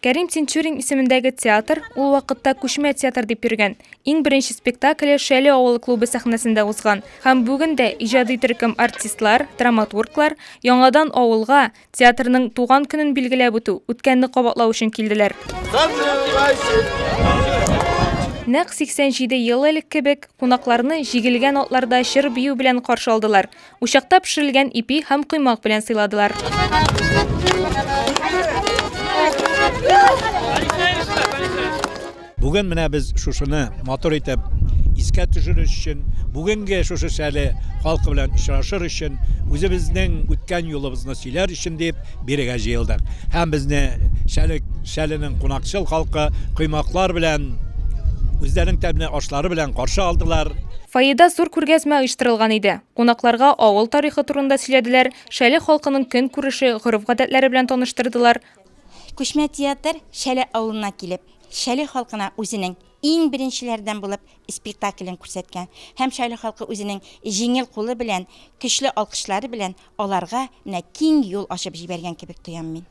Кәрим Тинчурин исемендәге театр ул вакытта күчмә театр дип йөргән. Иң беренче спектакле Шәле авылы клубы сәхнәсендә узган. Һәм бүген дә иҗади төркем артистлар, драматурглар яңадан авылга, театрның туган көнен билгеләп үтү, үткәнне кабатлау өчен килделәр. Нәкъ 87 ел элек кебек, кунакларны җигелгән атларда җыр-бию белән каршы алдылар. Учакта пешерелгән ипи һәм коймак белән сыйладылар. Бүген менә без шушыны матур итеп искә төшерү өчен, бүгенге шушы шәле халкы белән очрашыр өчен, үзебезнең үткән юлыбызны сөйләр өчен дип, Бирегә җыелдык. Һәм безне Шәлек, Шәленең кунакчыл халкы коймаклар белән, үзләренең тәмле ашлары белән каршы алдылар. Фойеда зур күргәзмә оештырылган иде. Кунакларга авыл тарихы турында сөйләделәр, Шәле халкының көн күреше, гореф-гадәтләре белән таныштырдылар. Күчмә театр Шәле авылына килеп, Шәле халкына үзенең Иң беренчеләрдән булып спектаклен күрсәткән һәм Шайле халкы үзенең җиңел кулы белән, көчле алкышлары белән аларга менә киң юл ачып җибәргән кебек тоям мин.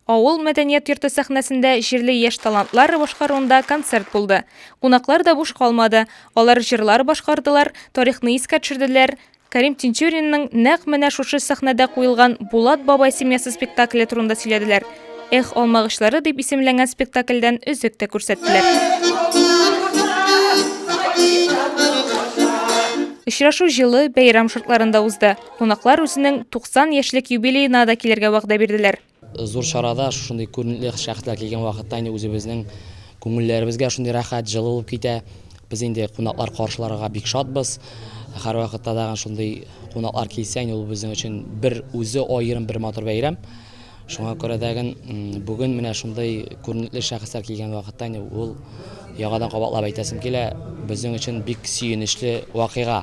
Авыл мәдәният йорты сәхнәсендә җирле яшь талантлар башкаруында концерт булды. Кунаклар да буш калмады, алар җырлар башкардылар, тарихны искә төшерделәр, Кәрим Тинчуринның нәкъ менә шушы сәхнәдә куелган Булат бабай семьясы спектакле турында сөйләделәр. Эх, алмагычлары дип исемләнгән спектакльдән өзек тә күрсәттеләр. Очрашу җылы бәйрәм шартларында узды. Кунаклар үзенең 90 яшьлек юбилеена да килергә вәгъдә бирделәр. Зур чарада шушындый күренекле шәхесләр килгән вакытта инде үзебезнең күңелләребез гә шундый рәхәт, җылы булып китә. Без инде кунаклар каршыларга бик шатбыз. Һәрвакытта тагын шундый кунаклар килсә, инде ул безнең өчен бер үзе аерым бер матур бәйрәм. Шуңа күрә тәген бүген менә шундый күренекле шәхесләр килгән вакытта инде ул яңадан кабатлап әйтәсем килә, безнең өчен бик сөенечле вакыйга.